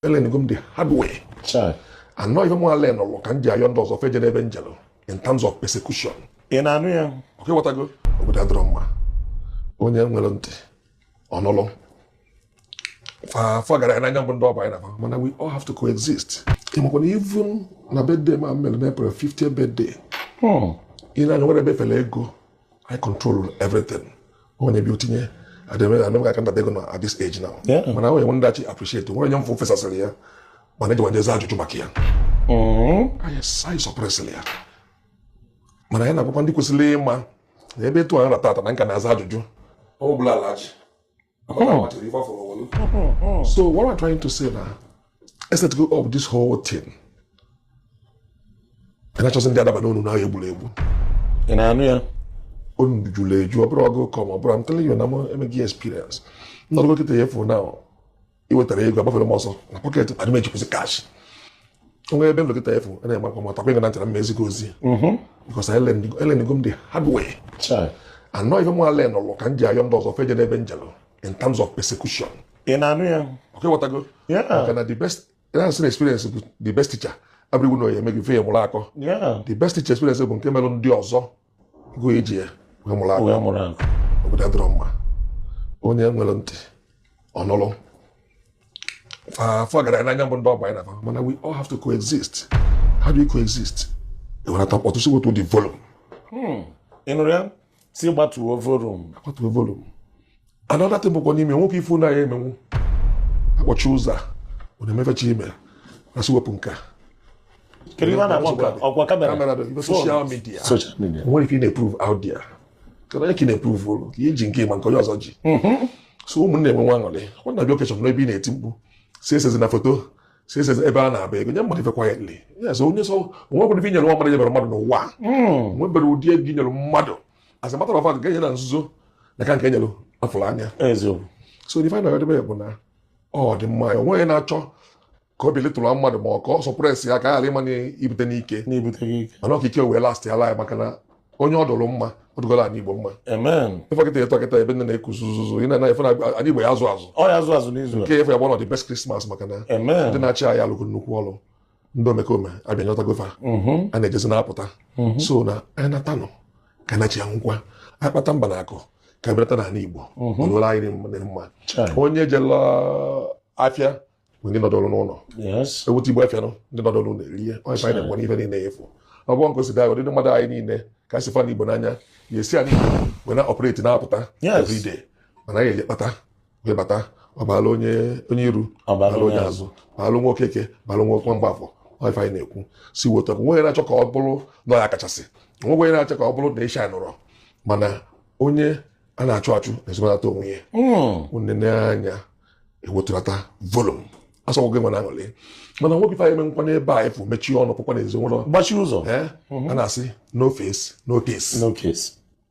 elearnigo m the hard way I know ife mụ ala nọlụ ka m ji ayọ ndị ọzọ feje n'ebe m jelụ in terms of persecution ị na-anụ ya ọkwa ị ghọtago obodo adịrọ mma onye nwere ntị ọ nụlụ afọ gara n'anya mbụ ndị ọba anyị na mana we all have to coexist ịmakwa na even na birthday m mere na april 50 birthday ị na-anụ ya o nwere ebe fere ego I control everything onye bịa o tinye adịghị aka nta ego na at this age now mana onye nwe ndachi appreciate nwere onye m fụ fesasịrị ya mana eji wajezi ajụjụ maka ya mm-hmm. anyị sọpresịrị ya mana anyị na-agwakwa ndị kwesịrị ịma na ebe etu anyị nọ taata na m ka na-aza ajụjụ ọ bụla alaji Oh. So what am I trying to say now? Is that go up this whole thing? And I just ndị adaba n'ọnụ na egburu egbu. Ị na-anụ ya? Ọnụ juru eju, ọ bụrụ ọgụ kọm, ọ bụrụ I'm telling you na m emeghị experience. Nnọdụ dọkịta ya efu na iwetara ego agbafere m ọsọ na pocket adị m ejikwazi cash. onwe ebe nlekọta efu a na-eme akwa matakwa ịga na ntara mma ezigbo ozi mhm. because elearnigo m the hard way I know ife m ale nọlụ ka m ji ayọ ndị ọzọ feje n'ebe m jelụ in terms of persecution ị na-anụ ya ọkwa ị ghọtago maka na the best na-asị na experience bụ the best teacher abụrịgwu na oyi eme gị fe mụrụ akọ the best teacher experience bụ nke melụ ndị ọzọ gị iji ya wee mụrụ akọ wee mụrụ akọ obodo adịrọ mma onye nwere ntị ọ nụlụ afọ gara n'anya mbụ ndị ọgba anyị na fa mana we all have to coexist how do you coexist e welata mkpọtụ sị wetuo the volume hmm. ị nụrụ ya sị gbatuo volume gbatuo volume another thing bụkwa n'ime nwoke ife ụlọ ya emenwu akpọchi ụzọ a ọ na-emefecha ime asị wepụ nke a kedu ihe a na-akpọ nke a? ọkwa kamera kamera bụ ife social media social media o nwere ife ị na-eprove out there kedu onye ka ị na-eprove ole ka i ji nke ma nke onye ọzọ ji so ụmụnne e nwee nwa aṅụrị ọ na-abịa occasion n'ebe ị na-eti mkpu sị esezina foto sị esezi ebe a na-agba ego nye mmadụ ife quietly yes onye so o nwekwara ife inyere nwa mmadụ nyebere mmadụ n'ụwa nwebere ụdị ego inyere mmadụ as a matter of fact nke e nye na nzuzo na-aka nke e nyere a fụrụ anya so the final edebe bụ na ọ dị mma ya onweghị na-achọ ka o belittle mmadụ ma ọ ka ọ suppress ya ka a ghara ịma ibute n'ike mana ọkike wee last ya laa maka na onye ọ dụrụ mma ọ dụgoro anị igbo mma ị fụ kịta etu akịta ebe nine na-ekuzi ụzụzụ ị na-anaghị fe na anị igbo ya azụ azụ nke efe ya bụ one of the best christmas maka na ndị na-achị anyị alụgo nnukwu ọrụ ndị omekome abịa nyọtago fa mhm. a na-ejezi na-apụta mhm. so na anyị nata ụnọ ka na chi anwụkwa a kpata mba na akụ ka e bulata n'ala Igbo mhm. ọlụla anyị dị mma onye jela afịa ndị nọdụrụ n'ụlọ ebute ibu afịa ndị nọdụrụ ụlọ erie onye anyị na-ekwe n'ife niile afụ ọ bụrụ nke osida ụdịdị mmadụ anyị niile ka si fụ ana Igbo n'anya ya esi anyị wee na-operate na-apụta everyday mana anyị eji kpata wee bata ọ balụ onye onye iru ọ balụ onye azụ balụ nwa okeke balụ nwa nwa mgbafọ ife anyị na-ekwu si weta nwe na-achọ ka ọ bụrụ na ọ ya kachasị nwe onye na-achọ ka ọ bụrụ na isha nọrọ mana onye a na-achụ achụ na-ezomelata onwe ya nne hmm. n'anya ewetulata volume asọgwụ gị nwere aṅụrị mana nwoke ife anyị eme nkwa n'ebe a efu mechie ọnụ pụkwa na ezinụlọ gbachie ụzọ a na-asị no face no case no case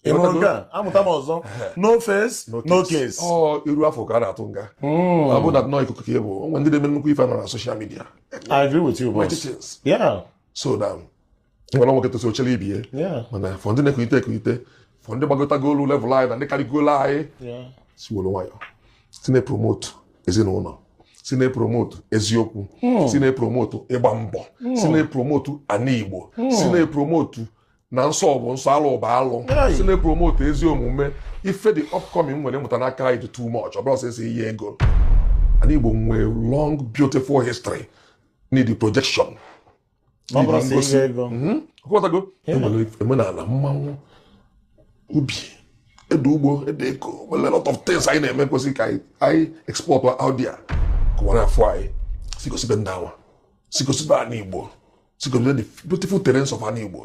ị hụrụ nke a amụta m ọzọ no face no case ọ iru a fụ ka a na-atụ nga hmm. ọ bụ na nọ ikuku ka ị bụ o nwe ndị na-eme nnukwu ife nọ na social media I agree with you boss yeah so na nwere nwoke tosi ochere ibie mana for ndị na-ekulite ekulite for ndị gbagotago lue level anyị na ndị karịgolo anyị si were nwayọ si na-epromotu ezinụlọ si na-epromotu eziokwu hmm. si na-epromotu ịgba mbọ hmm. si na-epromotu ana Igbo si na-epromotu na nsọ bụ nsọ alụ bụ alụ si na-epromote ezi omume ife ndị upcoming nwere mụta n'aka anyị dị too much ọ bụrọ sọ esi ihe ego ana Igbo nwee long beautiful history need projection ị ghọtago e nwere omenala mmanwụ ubi ede ugbo ede eko nwere lot of things anyị na-eme kwesịrị ka anyị export out there ka ụwa na-afụ anyị si gosibe ndị ụwa si gosibe ana Igbo si gosibe the beautiful terrains of ana Igbo